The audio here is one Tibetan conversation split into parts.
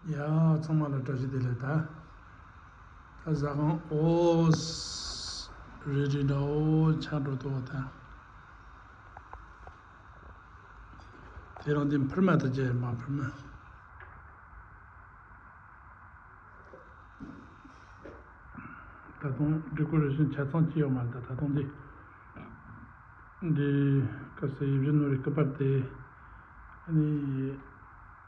ཡང་ཚང་མ་ལ་བཀྲ་ཤིས་བདེ་ལེགས་དང། ད་གཟའ་གང་ཨོྃ། རེད་དྲིན་དང་ཨོ་ཆང་འགྲོ་ཐུབ་བ་དང། དེ་རང་དེ་འཕུར་མ་དང་བཅས་མ་འཕུར་མ། ད་དུང Decoration ཆ་ཚང་ཅི་ཡོད་མ་རེད་ད་དུང་འདི། འདི་སྐབས་སེ་ཡིབ་བཞི་ནོར་རེ་སྐུ་པར་དེ།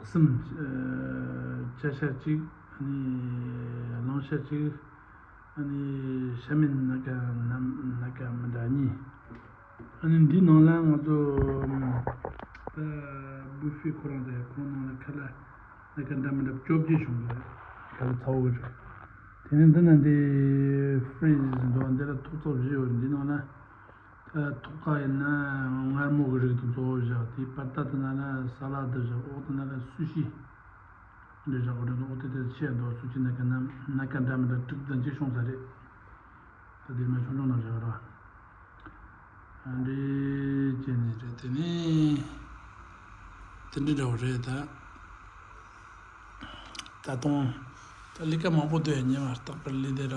གསུམ། བཅད་ཤ་གཅིག། ལོང་ཤ་གཅིག། ཤ་མེད་ན་ཀ་ན་ཀ་མི་འདྲ་གཉིས། འདིའི་ནང་ལ་ང་ཚོ་སྦུག་ཧྥེ་ཁོ་རང་རེད། ཁོང་ནང་ལ་ཁ་ལ་ན་ཀ་འདྲ་མི་འདྲ་བཅོ་བརྒྱད་བྱུང་འདུག་ཁ་ལ་ཚ་བོ་རེད། དེ་ནས་འདི་ན་འདི་ཧྥེ་རིས་འདུག་འདི་ལ་ཐུག་ཚོགས་བཞི་ཡོད་རེད་འདིའི་ནང་ལ། ཐོག་ཁ་ཡིན་ན་མངར་མོ་གི་རིགས་དང་གཙོ་བོ་བཞག་དེའི་པར་ལྟར་དུ་ན་ན་ས་ལ་དུ་བཞག་འོག་ཏུ་ན་ན་སུ་ཤི་འདྲེ་བཞག་གོ་དོན་དུ་འོག་ཏུ་དེ་ཆད་མདོར་སུ་ཅི་ན་ཀ་ན་ན་ཀ་འདྲ་མི་འདྲ་དྲུག་དང་གཅིག་ཤོང་ས་རེད། ད་དེ་མ་ཆུང་ཆུང་ན་བཞག་ར་འདྲེ་བྱས་ནས་རེད་དེ་ནི་དེ་འདྲ་འདྲ་བོ་རེད་ད། ད་དུང་ད་ལི་ཀ་མང་པོ་འདུག་ཉེ་བར་བརྟག་པར་ལི་དེ་ར་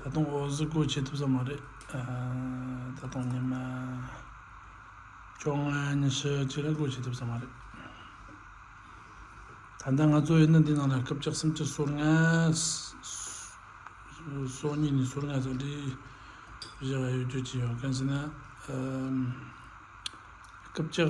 ད་དུང་འོ་བཟི་སྒོ་འབྱེད་ཐུབ་ས་མ་རེད་ད་དུང་ཉི་མ་བཅོ་ལྔ་ཉི་ཤུ་གཅིག་ར་སྒོ་འབྱེད་ཐུབ་ས་མ་རེད་ད་ལྟ་ང་གཙོ་བའི་གནས་འདི་ནང་ལ་སྐབས་བཅག་སུམ་ཅུ་སོར་ལྔ་སོ་གཉིས་ནས་སོར་ལྔ་བཟའ་འབྲི་བཞི་བ་ཡོད་རྒྱུ་ཅི་ཡོད་གང་ཟེར་ན་སྐབས་བཅག